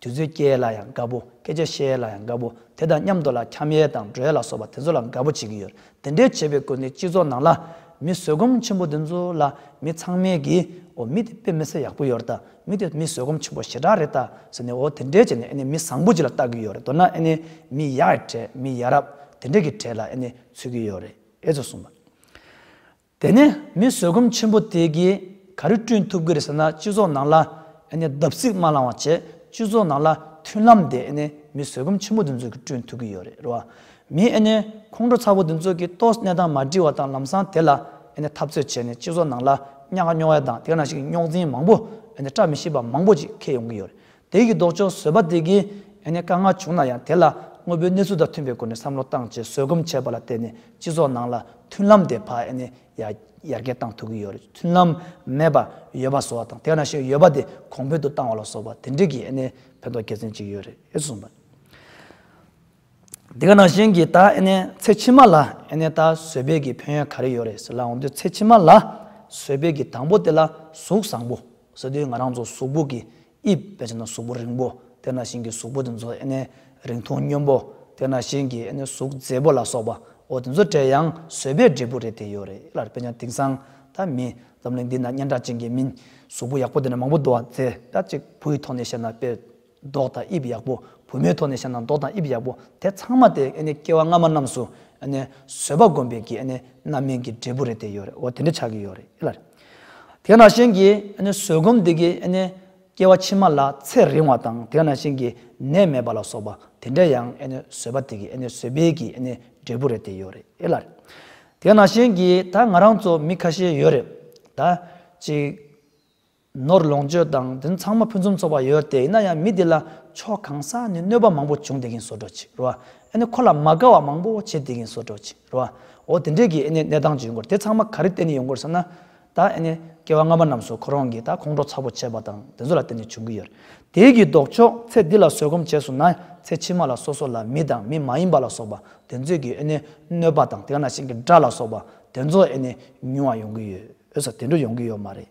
དུས་ཚོད་སྐྱེལ་ལ་ཡང་དགའ་པོ་སྐད་ཆ་བཤད་ལ་ཡང་དགའ་པོ་དེ་དང་མཉམ་དུ་ལ་འཁྱམ་ཡས་དང་སྒྲོལ་ལ་སོགས་པ་དེ་ཚོ་ལ་དགའ་པོ་བྱེད་ཀྱི་ཡོད་དེ་འདྲའི་བྱེད་པའི་སྐོར་འདི་སྤྱི་ཚོགས་ནང་ལ། མི་བཟོད་སྒོམ་ཆེན་པོ་འདི་ཚོ་ལ་མི་ཚང་མས་ཀྱིས་འོ་མི་དེ་དཔེ་མི་སྲིད་ཡག་པོ་ཡོད་རེད་ད་མི་དེ་མི་བཟོད་སྒོམ་ཆེན་པོ་ཞེ་དྲག་རེད་ད་ཟེར་ནས་འོ་དེ་འདྲས་བྱས་ནས་ཨེ་ནས་མི་བཟང་པོ་ཅིག་ལ་བལྟ་གི་ཡོད་རེད་མདོར་ན་ཨེ་ནས་མི་ཡག་གྲས་མི་ཡ་རབས་དེ་འདྲས་ཀྱི་གྲས་ལ་ཨེ་ནས་ཚུད་ཀྱི་ཡོད་རེད་ཨེ་ཙོ་གསུངས་པ། དེ་ནས་མི་བཟོད་སྒོམ་ཆེན་པོ་དེས་ཀྱིས་ག་རེ་བསྐྲུན་ཐུབ་ཀི་རེད་ཟེར་ན་སྤྱི་ཚོགས་ནང་ལ་བརྡབ་གསིག་མ་བསླང་བ་བྱས་སྤྱི་ཚོགས་ནང་ལ་མཐུན་ལམ་དེ་མི་བཟོད་སྒོམ་ཆེན་པོ་འདི་ཚོས་ཀྱིས་བསྐྲུན་ཐུབ་ཀྱི་ཡོད་རེད་རེད་བ། མི་ཁོང་ཁྲོ་ཚ་བོ་འདི་ཚོས་ཀྱིས་ཏོག་ནད་དང་མ་འདྲིས་བ་དང་ལམ་སང་དེ་ལ་འཐབ་རྩོད་བྱས་ནས་སྤྱི་ཚོགས་ནང་ལ་གཉའ་ཁ་སྨྱོ་བ་དང་དེ་འདྲ་ཞིག་རྙོག་འཛིང་མང་པོ་བཀྲ་མི་ཤིས་པ་མང་པོ་ཅིག་འཁེལ་ཡོང་གི་ཡོད་རེད་དེ་ཡི་ལྡོག་ཕྱོགས་བཟོད་པ་དེ་གའི་ཡང་ན་དཀའ་ངལ་བྱུང་ན་ཡང་དེ་ལ་དངོས་པོའི་གནས་ཚུལ་དང་མཐུན་པའི་སྒོ་ནས་བསམ་བློ་བཏང་རྗེས་བཟོད་སྒོམ་བྱས་པ་ལ་བརྟེན་ནས་སྤྱི་ཚོགས་ནང་ལ་མཐུན་ལམ་དེ་ཕ་ཡ་ནས་ཡར་རྒྱས་བཏང་ཐུབ་ཀྱི་ཡོད་རེད་མཐུན་ལམ་མེད་པར་ཡོད་པ་བཟོ་བ་དང་དེ་ན་ཞིག་ཡོད་པ་དེ་གོང་འཕེལ་དུ་བཏང་བ་ལ་བཟོ་བ་དེ་འདྲས་ཀྱི་ཕན་ཐོགས་དགེ་མཚན་ཅིག་ཡོད་རེད་གསུངས་པ། དེ་ག་ནང་བཞིན་གྱི་ད་ཚེ་ཕྱི་མ་ལ་ད་བཟོད་པའི་གི་ཕན་ཡོན་ག་རེ་ཡོད་རེད་ཟེར་ལ་འོ་འདོད་ཚེ་ཕྱི་མ་ལ་བཟོད་པའི་གི་དང་པོ་དེ་ལ་གཟུགས་བཟང་པོ། སོ་དེ་ང་རང་ཚོ་གཟུགས་པོ་གི་དབྱིབས་བེད་སྤྱད་ན་གཟུགས་པོ་རིང་པོ་དེ་ན་བཞིན་གྱི་གཟུགས་པོ་དེ་ཚོ་ཨེ་ནས་རིང་ཐུང་སྙོན་པོ་དེ་ན་བཞིན་གྱི་ཨེ་ནས་གཟུགས་མཛེས་པོ་ལ་སོགས་པ་འོ་དེ་ཚོ་དྲས་ཡང་བཟོད་པའི་འབྲས་བུ་རེད་དེ་ཡོད་རེད་ལར་དཔེ་ཀྱང་དེང་སང་ད་མིན་འཛམ་གླིང་འདི་ན་སྙན་གྲགས་ཅན་གྱི་མིན་གཟུགས་པོ་ཡག་པོ་དེ་ན་མང་པོ་འདུག་བ་དེ་དག་ཅིག་བུ་ཡི་ཐོག་ནས་བཤད་ན་དཔེ། མདོག་དང་དབྱིབས་ཡག་པོ་བུ་མོའི་ཐོག་ནས་བཤད་ན་མདོག་དང་དབྱིབས་ཡག་པོ་དེ་ཚང་མ་དེ་སྐྱེ་བ་སྔ་མ་རྣམས་སུ་བཟོད་པ་སྒོམ་པའི་གི་རྣམ་སྨིན་གྱི་འབྲས་བུ་རེད་དེ་ཡོད་རེད་དེ་འདྲ་ཆགས་ཀྱི་ཡོད་རེད་ལ། དེ་ནང་བཞིན་གྱི་བཟོད་སྒོམ་དེ་གི་སྐྱེ་བ་ཕྱི་མ་ལ་ཚེ་རིང་བ་དང་དེ་ནང་བཞིན་གྱི་ནད་མེད་པ་ལ་སོགས་པ་དེ་འདྲ་ཡང་བཟོད་པ་དེ་གི་བཟོད་པའི་གི་འབྲས་བུ་རེད་དེ་ཡོད་རེད་ལ། དེ་ནང་བཞིན་གྱི་ད་ང་རང་ཚོ་མི་ཁ་ཤས་ཡོད་རེད་ད། གཅིག། ནོར་ལོངས་སྤྱོད་དང་དེ་ཚང་མ་ཕུན་སུམ་ཚོགས་པ་ཡོད་དེ་ཡིན་ན་ཡང་མི་དེ་ལ་ཕྱོགས་གང་ས་ནས་གནོད་པ་མང་པོ་བྱུང་དེ་གིན་སོ་དྲོ་ཕྱིར་རོ། ཨེ་ནི་ཁོ་ལ་མ་དགའ་བ་མང་པོ་བྱེད་དེ་གིན་སོ་དྲོ་ཕྱིར་རོ། འོ་དེ་འདྲས་ཀྱི་ཨེ་ནི་གནས་སྟངས་ཅི་ཡོང་གོ་དེ་ཚང་མ་ག་རེ་བརྟེན་ནས་ཡོང་གོ་ཟེར་ན། ད་ཨེ་ནི་སྐྱེ་བ་སྔ་མ་རྣམས་སུ་ཁོ་རང་གིས་ད་ཁོང་ཁྲོ་ཚ་པོ་བྱས་པ་དང་དེ་ཚོ་ལ་བརྟེན་ནས་བྱུང་གི་ཡོད། དེའི་གི་ལྡོག་ཕྱོགས་ཚེ་འདི་ལ་བཟོད་སྒོམ་བྱས་སོང་ན་ཚེ་ཕྱི་མ་ལ་སོ་སོ་ལ་མི་དང་མི་མ་ཡིན་པ་ལ་སོགས་པ་དེ་ཚོས་གི་ཨེ་ནི་གནོད་པ་དང་དེ་ང་ན་ཤིང་གི་སྒྲ་ལ་སོགས་པ་དེ་ཚོ་ཨེ་ནི་ཉུང་བ་ཡོང་གི་ཡོད། འོད་ཟེར་དེ་འདྲ་ཡོང་གི་ཡོད་མ་རེད།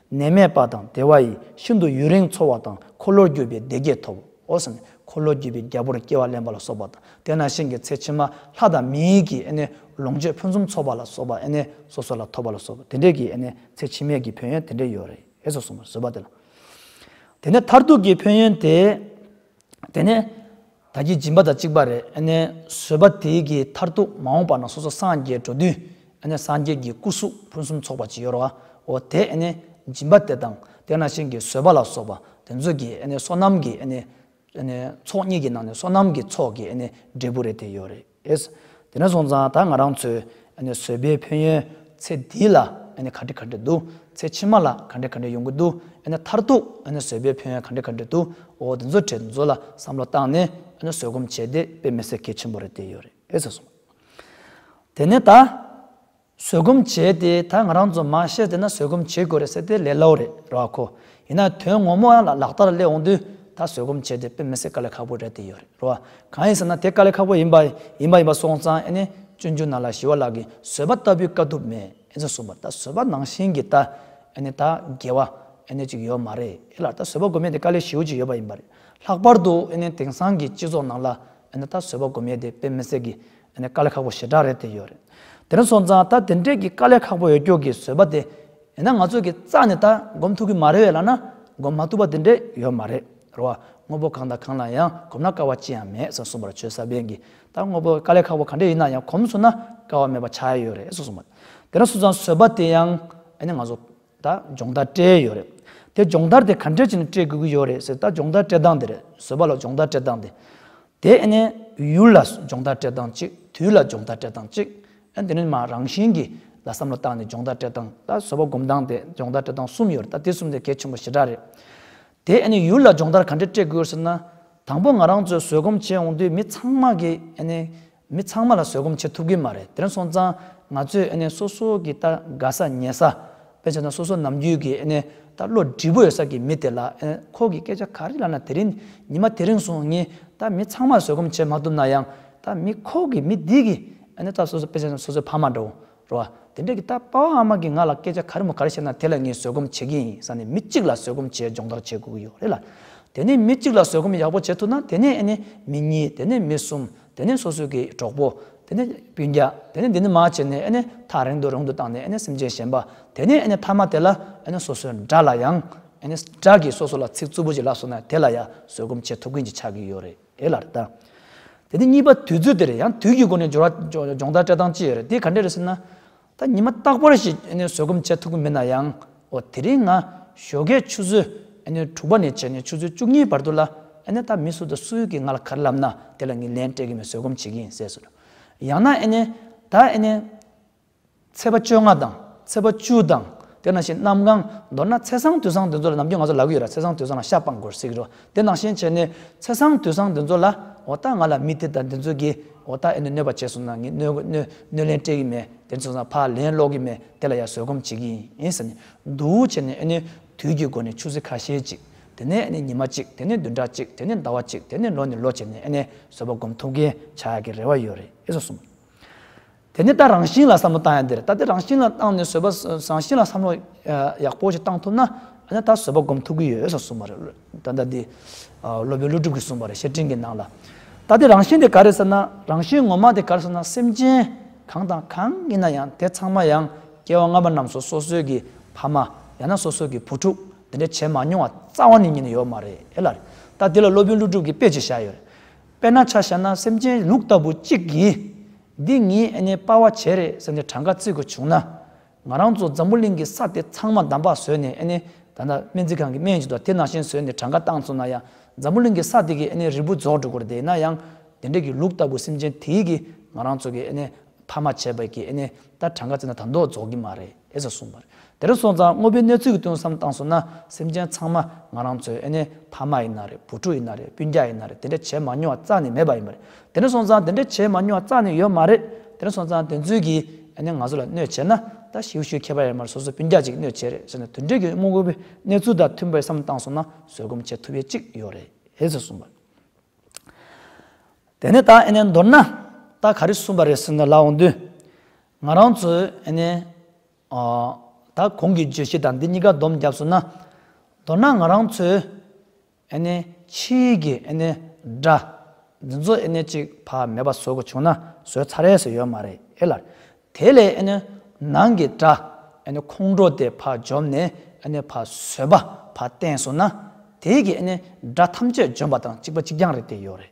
ནད་མེད་པ་དང་བདེ་བ་ཡིས་ཤིན་ཏུ་ཡུན་རིང་འཚོ་བ་དང་འཁོར་ལོར་རྒྱུ་བའི་བདེ་སྐྱིད་ཐོབ་བོ། འཁོར་ལོར་རྒྱུ་བའི་རྒྱལ་པོར་སྐྱེ་བ་ལེན་པ་ལ་སོགས་པ་དང་དེ་ནང་བཞིན་གྱི་ཚེ་ཕྱི་མ་ལྷ་དང་མིའི་གྱི་ལོངས་སྤྱོད་ཕུན་སུམ་ཚོགས་པ་ལ་སོགས་པ་སོ་སོ་ལ་ཐོབ་པ་ལ་སོགས་པ་དེ་འདྲའི་གྱི་ཚེ་ཕྱི་མའི་གྱི་ཕན་ཡོན་དེ་འདྲའི་ཡོད་རེ་ཞེས་སོགས་གསུངས་པར་བཟོད་པ་དེ་ལ། དེ་ནས་མཐར་ཐུག་གི་ཕན་ཡོན་དེ། དེ་ནས་ད་ཀྱི་སྦྱིན་པ་དང་གཅིག་པ་རེ་བཟོད་པ་དེ་ཀྱི་མཐར་ཐུག་མ་འོངས་པ་ན་སོ་སོ་སངས་རྒྱས་འགྲོ་དུས་སངས་རྒྱས་ཀྱི་སྐུ་གཟུགས་ཕུན་སུམ་ཚོགས་པ་ཅིག་ཡོད་རོའོ། དེ་སྦྱིན་པ་དེ་དང་དེ་ན་ཤིང་གི་བཟོད་པ་ལ་སོགས་པ་དེ་ཚོ་གྱི་བསོད་ནམས་ཀྱི་ཚོགས་གཉིས་ཀྱི་ནང་ནས་བསོད་ནམས་ཀྱི་ཚོགས་ཀྱི་འབྲས་བུ་རེ་དེ་ཡོད་རེད། རེད། དེ་ནས་བཟུང་ཙང་ད་ང་རང་ཚོའི་བཟོད་པའི་ཕན་ཡོན་ཚེ་འདི་ལ་ག་འདྲི་ག་འདྲི་འདུག་ཚེ་ཕྱི་མ་ལ་ག་འདྲི་ག་འདྲི་ཡོང་གི་འདུག་མཐར་ཐུག་བཟོད་པའི་ཕན་ཡོན་ག་འདྲི་ག་འདྲི་འདུག་འོ་དེ་ཚོ་དྲི་ཚོ་ལ་བསམ་བློ་བཏང་ནས་བཟོད་སྒོམ་བྱས་ཏེ་དཔེ་མི་སྲིད་གལ་ཆེན་པོ་རེད་དེ་ཡོད་རེད། དེ་ནས་ད། བཟོད་སྒོམ་བྱས་ཏེ་ད་ང་རང་ཚོ་མ་ཤེས་ཟེར་ན་བཟོད་སྒོམ་བྱེད་དགོས་རེད་ཟེར་ཏེ་ལས་སླ་བོ་རེད་རེད་བ་གོ། ཡིན་ན་དོན་ངོ་མོ་ཡང་ལག་བསྟར་སླེབས་འོང་དུས་ད་བཟོད་སྒོམ་བྱས་ཏེ་དཔེ་མི་སྲིད་དཀའ་ལས་ཁག་པོ་རེད་དེ་ཡོད་རེད་བ། གང་ཡིན་ཟེར་ན་དེ་དཀའ་ལས་ཁག་པོ་ཡིན་པ་ཡིན་པ་ཡིན་པ་སོང་ཙང་ཨེ་ནས་སྤྱོད་འཇུག་ནང་ལ་ཞི་བ་ལགས་ཀྱི་བཟོད་པ་ལྟ་བུའི་དཀའ་ཐུབ་མེད་ཨེ་ཙང་གསུངས་པར་ད་བཟོད་པ་ནང་བཞིན་གྱི་ད་ཨེ་ནས་ད་དགེ་བ་ཨེ་ནས་ཅིག་ཡོད་མ་རེད་ཨེ་ལགས་ད་བཟོད་པ་སྒོམ་ཡས་དེ་དཀའ་ལས་ཞི་བོ་ཅིག་ཡོད་པ་ཡིན་པ་རེད་ལྷག་པར་དུ་ཨེ་ནས་དེང་སང་གི་སྤྱི་ཚོགས་ནང་ལ་ཨེ་ནས་ད་བཟོད་པ་སྒོམ་ཡས་དེ་དཔེ་མི་སྲིད་གི་དེ་ནི་དཀའ་ལས་ཁག་པོ་ཞེ་དྲག་རེད་དེ་ཡོད་རེད་དེ་ནི་སོང་ཙང་ད་དེ་འདྲས་ཀྱི་དཀའ་ལས་ཁག་པོ་ཡོད་སྐྱོ་གི་བཟོད་པ་དེ་ཡིན་ན་ང་ཚོས་ཀྱི་རྩ་ནས་ད་སྒོམ་ཐུབ་ཀྱི་མ་རེད་བས་ལ་ན་སྒོམ་མ་ཐུབ་པ་དེ་འདྲས་ཡོད་མ་རེད་རེད་བ་དངོས་པོ་གང་དང་གང་ལ་ཡང་གོམས་ན་དཀའ་བ་ཅི་ཡང་མེད་ཟེར་གསུངས་པར་ཆོས་ས་པན་གྱིས་ད་དངོས་པོ་དཀའ་ལས་ཁག་པོ་ག་འདྲས་ཡིན་ན་ཡང་གོམས་སོང་ན་དཀའ་བ་མེད་པ་ཆགས་ཡོད་རེད་ཟེར་གསུངས་པ་དེ་ནི་སོང་ཙང་བཟོད་པ་དེ་ཡང་ཨ་ནི་ང་ཚོ། ད་སྦྱོང་བརྡར་སྤྲད་ཡོད་རེད། དེ་སྦྱོང་བརྡར་དེ་ག་འདྲས་བྱས་ནས་སྤྲད་དགོས་ཀྱི་ཡོད་རེད་ཟེར་ད་སྦྱོང་བརྡར་སྤྲད་སྟངས་དེ་རེད་བཟོད་པ་ལ་སྦྱོང་བརྡར་སྤྲད་སྟངས་དེ། དེ་ཨེ་ནས་ཡུལ་ལ་སྦྱོང་བརྡར་སྤྲད་སྟངས་གཅིག་དུས་ལ་སྦྱོང་བརྡར་སྤྲད་སྟངས་གཅིག་ཨེ་དེ་ནས་མ་རང་བཞིན་གྱིས་ལ་བསམ་བློ་བཏང་ནས་སྦྱོང་བརྡར་སྤྲད་སྟངས་ད་བཟོད་པ་སྒོམ་སྟངས་དེ་སྦྱོང་བརྡར་སྤྲད་སྟངས་གསུམ་ཡོད་རེད་ད་དེ་གསུམ་དེ་གལ་ཆེན་པོ་ཞེ་དྲག་རེད། དེ་ཨེ་ནས་ཡུལ་ལ་སྦྱོང་བརྡར་ག་འདྲས་སྤྲད་དགོས་ཟེར་ན། དང་པོ་ང་རང་ཚོས་བཟོད་སྒོམ་བྱས་འོང་དུས་མི་ཚང་མ་གིས་ཨེ་ནས་མི་ཚང་མ་ལ་བཟོད་སྒོམ་བྱེད་ཐུབ་གི་མ་རེད་དེར་སོང་ཙང་ང་ཚོས་ཨེ་ནས་སོ་སོ་གི་ལྟར་དགའ་ས་ཉེ་ས། དཔེ་བྱས་ན་སོ་སོ་ནམ་རྒྱུན་གྱི་ཨེ་ནས་ལྟར་བློ་བསྒྲིལ་པོ་ཡོད་ས་ཀྱི་མི་དེ་ལ་ཨེ་ཁོ་གི་སྐད་ཆ་ག་རེ་ལབ་ན་དེ་རིང་ཉི་མ་དེ་རིང་སོང་ངས་ད་མི་ཚང་མ་ལ་བཟོད་སྒོམ་བྱེད་མ་ཐུབ་ན་ཡང་ད་མི་ཁོ་གི་མི་འདི་གི་ཨེ་ནས་ལྟར་སོ་སོ་དཔེ་བྱས་ན་སོ་སོའི་ཕ་མ་འདྲ་བོ་རེད་བ། དེ་འདྲ་གི་ད་དཔའ་བོ་ཨ་མ་གི་ང་ལ་སྐད་ཆ་ག་རེ་མོ་ག་རེ་བཤད་ན་དེ་ལ་ངས་བཟོད་སྒོམ་བྱེད་ཀྱི་ཡིན་ས་ནས་མི་གཅིག་ལ་བཟོད་སྒོམ་བྱས་སྦྱོང་བརྡར་བྱེད་དགོས་ཀྱི་ཡོད་རེད་ལ། དེ་ནས་མི་གཅིག་ལ་བཟོད་སྒོམ་ཡག་པོ་བྱེད་ཐུབ་ན་དེ་ནས་ཨེ་ནས་མི་གཉིས་དེ་ནས་མི་གསུམ་དེ་ནས་སོ་སོའི་གི་གྲོགས་པོ། དེ་ནས་བུ་བརྒྱ་དེ་ནས་འདི་འདི་མ་བྱས་ནས་ཨེ་ནས་ཐག་རིང་དུ་རིང་དུ་བཏང་ནས་ཨེ་ནས་སེམས་ཅན་གཞན་པ་དེ་ནས་ཨེ་ནས་མཐའ་མ་དེ་ལ་ཨེ་ནས་སོ་སོའི་འདྲ་ལ་ཡང་ཨེ་ནས་འདྲ་གི་སོ་སོ་ལ་ཚིག་རྩུབ་པོ་ཅིག་ལབ་སོང་ན་དེ་ལ་ཡང་བཟོད་སྒོམ་བྱེད་ཐུབ་ཀྱི་ཅིག་ཆགས་ཀྱི་ཡོད་རེད། དེ་ལ་བལྟ། དེ་ནི་གཉིས་པ་དུས་ཚོད་དེ་རེད་ཡང་དུས་ཀྱི་སྒོ་ནས་སྦྱོར་བ་སྦྱོང་བརྡར་སྤྲད་སྟངས་ཅི་ཡོད་རེད་དེ་ག་འདྲ་རེད་ཟེར་ན། ད་ཉི་མ་རྟག་པར་ཞིག་བཟོད་སྒོམ་བྱེད་ཐུབ་ཀྱི་མེད་ན་ཡང་འོ་དེ་རིང་ང་ཞོ་ཁའི་ཆུ་ཚོད་དྲུག་པ་ནས་བྱས་ནས་ཆུ་ཚོད་བཅུ་གཉིས་བར་དུ་ལ་ད་མི་སུ་དང་སུ་ཡོད་ཀྱིས་ང་ལ་ག་རེ་ལབ་ན་དེ་ལ་ངས་ལན་སྤྲད་ཀྱི་མེད་བཟོད་སྒོམ་བྱེད་ཀྱི་ཡིན་ཟེར་སོ། ཡང་ན། ད། ཚེས་པ་བཅོ་ལྔ་དང་ཚེས་པ་བཅུ་དང་དེ་ནང་བཞིན་གནམ་གང། མདོར་ན་ཚེས་བཟང་དུས་བཟང་དེ་ཚོ་ལ་ནམ་རྒྱུན་ང་ཚོ་ལག་གི་ཡོད་ར་ཚེས་བཟང་དུས་བཟང་ལ་ཤ་སྤང་དགོས་ཟིག་རོ་དེ་ནང་བཞིན་བྱས་ནས་ཚེས་བཟང་དུས་བཟང་དེ་ཚོ་ལ་འོ་ད་ང་ལ་མི་དེ་དང་དེ་ཚོ་གིས་འོ་ད་ཨེ་ནུ་གནོད་པ་བྱས་སོང་ན་ངས་གནོད་གནོད་གནོད་ལན་སྤྲད་གི་མེད་དེ་ཚོ་ཚང་ཕར་ལན་སློག་གི་མེད་དེ་ལ་ཡང་བཟོད་སྒོམ་བྱེད་ཀྱི་ཡིན་ཟེར་ནས་འདུག་བྱས་ནས་ཨེ་ནུ་དུས་ཀྱི་སྒོ་ནས་ཆུ་ཚོད་ཁ་ཤས་ཅིག་དེ་ནས་ཨེ་ནི་ཉི་མ་གཅིག་དེ་ནས་བདུན་ཕྲག་གཅིག་དེ་ནས་ཟླ་བ་གཅིག་དེ་ནས་ལོ་ནས་ལོ་བྱས་ནས་ཨེ་ནི་བཟོད་པ་སྒོམ་ཐུབ་མཁན་ཆགས་ཀྱི་རེ་བ་ཡོད་རེད་ཨེ་ཟོ་གསུངས། དེ་ནས་ད་རང་བཞིན་ལ་བསམ་བློ་བཏང་ཡ་འདིར་ད་དེ་རང་བཞིན་ལ་བཏང་ནས་བཟོད་པ་རང་བཞིན་ལ་བསམ་བློ་ཡག་པོ་ཞིག་བཏང་ཐུབ་ན་ཨ་ན་ད་བཟོད་པ་སྒོམ་ཐུབ་ཀྱི་ཡོད་ས་གསུངས་པ་རེད་ད་ལྟ་འདི་སློབ་དཔོན་ཀླུ་སྒྲུབ་ཀྱིས་གསུངས་པ་རེད་བཤེས་སྤྲིང་གི་ནང་ལ་ད་དེ་རང་བཞིན་དེ་ག་རེད་ཟེར་ན་རང་བཞིན་ངོ་མ་དེ་ག་རེད་ཟེར་ན་སེམས་ཅན་གང་དང་གང་ཡིན་ན་ཡང་དེ་ཚང་མ་ཡང་སྐྱེ་བ་སྔ་མ་རྣམས་སུ་སོ་སོའི་གི་ཕ་མ་ཡང་ན་སོ་སོའི་གི་བུ་ཕྲུག་འདི་འདྲ་བྱེད་མ་མྱོང་བ་རྩ་བ་ནས་ཉིད་ནས་ཡོད་མ་རེད་ལ། ད་དེ་ལ་སློབ་དཔོན་ཀླུ་སྒྲུབ་ཀྱིས་དཔེ་ཅིག་བཞག་ཡོད་རེད། དཔེར་ན་ཆ་བྱས་ན་སེམས་ཅན་ལུག་ལྟ་བུ་གཅིག་གིས། འདི་ངའི་ཨ་ནེའི་སྤར་བ་བྱས་རེད་ཟེར་ནས་གྲངས་ཀ་བརྩི་དགོས་བྱུང་ན། ང་རང་ཚོ་འཛམ་བུ་གླིང་གི་ས་དེ་ཚང་མ་འདམ་བག་བཟོས་ནས་ཨ་ནེ། ད་ལྟ་སྨན་རྩིས་ཁང་གི་སྨན་ཞིག་ཏུ་དེ་ནང་བཞིན་བཟོས་ནས་གྲངས་ཀ་བཏང་ཚུགས་ན་ཡང་འཛམ་བུ་གླིང་གི་ས་དེ་གིས་ཨ་ནེའི་རིལ་བུ་རྫོགས་འགྲོ་དགོས་རེད་ན་ཡང། དེ་འདྲ་གི་ལུག་ལྟ་བུ་སེམས་ཅན་དེའི་གིས་ང་རང་ཚོ་གི་ཨ་ནེ་ཐ་མ་བྱས་པའི་ཀྱི་ནི་ད་གྲངས་ཀ་བརྩི་ན་དང་དོག་རྫོགས་ཀྱི་མ་རེད་ཟེར་གསུངས་པར། དེར་སོང་ཙང་དངོས་པོའི་གནས་ཚུལ་གྱི་ཐུན་བསམ་བཏང་སོང་ན་སེམས་ཅན་ཚང་མ་ང་རང་ཚོའི་ཨེ་ནི་ཕ་མ་ཡིན་ན་རེད་བུ་ཕྲུག་ཡིན་ན་རེད་སྤུན་རྒྱ་ཡིན་ན་རེད་དེ་འདྲ་བྱས་མ་མྱོང་བ་རྩ་ནས་མེད་པ་ཡིན་པ་རེད་དེར་སོང་ཙང་དེ་འདྲ་བྱས་མ་མྱོང་བ་རྩ་ནས་ཡོད་མ་རེད་དེར་སོང་ཙང་དེ་ཚུལ་གྱི་ཨེ་ནི་ང་ཚོ་ལ་གནོད་བྱས་ན་ད་ཞིའུ་ཞུའི་ཁྱད་པར་ཡོད་མ་རེད་སོ་སོ་སྤུན་རྒྱ་ཅིག་གནོད་བྱས་རེད་ཟེར་ན་དུད་འགྲོའི་ཀྱི་དངོས་པོའི་གནས་ཚུལ་དང་མཐུན་པའི་བསམ་བཏང་སོང་ན་བཟོད་སྒོམ་བྱེད་ཐུབ་ཡས་ཅིག་ཡོད་རེད་ཟེར་གསུངས་པར། དེ་ནས་ད་ཨེ་ནས་མདོར་ན་ད་ག་རེ་གསུངས་པ་རེད་ཟེར་ན་ལགས་འོང་དུས། ང་རང་ཚོས་ཨེ་ནས། ད་གོང་གི་བརྗོད་གཞི་དང་འདི་གཉིས་ཀ་བསྡོམས་བརྒྱབས་སོང་ན། མདོར་ན་ང་རང་ཚོས་ཨེ་ནས་ཕྱི་ཡིག་གི་ཨེ་ནས་སྒྲ། འདི་ཚོ་ཨེ་ནས་ཅིག་བག་མེད་པ་བཟོ་དགོས་བྱུང་ན་བཟོས་ཚར་རེད་ཟེར་ཡོད་མ་རེད་ཨེ་ལགས། དེ་ལས་ཨེ་ནས་ནང་གི་སྒྲ་ཨེ་ནས་ཁོང་ཁྲོ་དེ་བག་འཇོམས་ནས་ཨེ་ནས་བག་བཟོས་པ་བག་བསྟན་སོང་ན། དེ་ཡིག་གི་ཨེ་ནས་སྒྲ་ཐམས་ཅད་འཇོམས་པ་དང་གཅིག་པ་གཅིག་རྐྱང་རེད་དེ་ཡོད་རེད།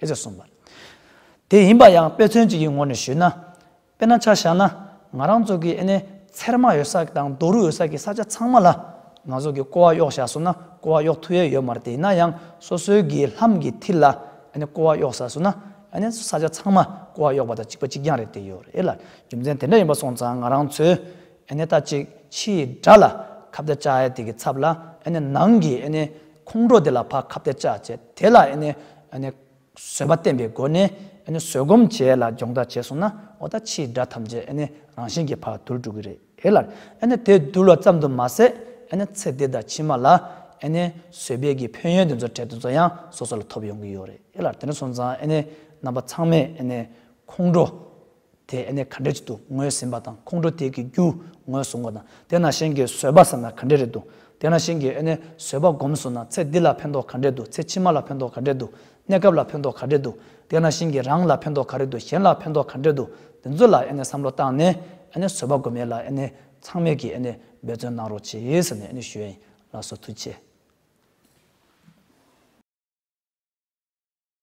ཞེས་གསུངས་པ། དེ་ཡིན་པ་ཡང་དཔེ་མཚོན་གཅིག་གི་ངོར་ནས་ཞུས་ན། དཔེར་ན་ཆ་བཞག་ན་ང་རང་ཚོ་གི་ཨེ་ནས་ཚེར་མ་ཡོད་ས་དང་རྡོ་རུ་ཡོད་ས་ཀྱི་ས་ཆ་ཚང་མ་ལ་ང་ཚོ་གི་ཀོ་བ་གཡོག་བཞག་སོང་ན་ཀོ་བ་གཡོག་ཐུ་ཡས་ཡོད་མ་རེད་དེ་ཡིན་ན་ཡང་སོ་སོའི་གི་ལྷམ་གི་མཐིལ་ལ་ཨེ་ནས་ཀོ་བ་གཡོག་བཞག་སོང་ན་ཨེ་ནས་ས་ཆ་ཚང་མ་ཀོ་བ་གཡོག་པ་དང་གཅིག་པ་གཅིག་རྐྱང་རེད་དེ་ཡོད་རེད་ལ་རྒྱུ་མཚན་དེ་འདྲ་ཡིན་པ་སོང་ཙང་ང་རང་ཚོའི་ཨེ་ནས་ད་ཅིག་ཕྱི་ཡི་དགྲ་ལ་ཁ་བརྡ་བཅའ་ཨེ་དེ་གི་ཚབ་ལ་ཨེ་ནས་ནང་གི་ཨེ་ནས་ཁོང་ཁྲོ་དེ་ལ་ཕ་ཁ་བརྡ་བཅའ་བྱས་དེ་ལ་ཨེ་ནས་ཨེ་ནས་བཟོད་པ་བསྟན་པའི་སྒོ་ནས་ཨེ་ནས་བཟོད་སྒོམ་བྱས་ལ་སྦྱོང་བརྡར་བྱས་སོང་ན་འོ་ད་ཕྱི་ཡི་དགྲ་ཐམས་ཅད་ཨེ་ནས་རང་བཞིན་གྱི་ཕ་དུར་འགྲོ་གི་རེད་ཨེ་ལར་ཨེ་ནས་དེ་དུར་བ་ཙམ་དུ་མ་ཟད་ཨེ་ནས་ཚེ་འདི་དང་ཕྱི་མ་ལ་ཨེ་ནས་བཟོད་པའི་གི་ཕན་ཡོན་དེ་ཚོ་འཕྲལ་དུ་ཚོ་ཡང་སོ་སོ་ལ་ཐོབ་ཡོང་གི་ཡོད་རེད་ཨེ་ལར་དེ་ནས་སོང་ཙང་ཨེ་ནས་རྣམ་པ་ཚང་མས་ཨེ་ནས་ཁོང་ཁྲོ། དེས་ཨེ་ནས་ག་འདྲས་ཅིག་ཏུ་ངོས་ཟིན་པ་དང་ཁོང་ཁྲོ་དེས་ཀྱི་རྒྱུ་ངོས་བཟུང་བ་དང་དེ་ན་ཤེན་གྱིས་བཟོད་པ་བསམ་ན་ག་འདྲས་རེད་འདུག་དེ་ན་ཤེན་གྱིས་ཨེ་ནས་བཟོད་པ་སྒོམ་བཟོད་ན་ཚེ་འདི་ལ་ཕན་ཐོག་ག་འདྲས་འདུག་ཚེ་ཕྱི་མ་ལ་ཕན་ཐོག་ག་འདྲས་འདུག་གནས་སྐབས་ལ་ཕན་ཐོག་ག་འདྲས་འདུག་དེ་ན་ཤེན་གྱིས་རང་ལ་ཕན་ཐོག་ག་རེ་འདུག་གཞན་ལ་ཕན་ཐོག་ག་འདྲས་འདུག་འདི་ཚོ་ལ་ཨེ་ནས་བསམ་བློ་བཏང་ནས་ཨེ་ནས་བཟོད་པ་སྒོམ་ཡས་ལ་ཨེ་ནས་ཚང་མས་ཀྱིས་ཨེ་ནས་འབད་བརྩོན་གནང་རོགས་བྱས་ཟེར་ནས་ཨེ་ནས་ཞུ་ཡས་ལ་སོ་ཐུ་བྱས།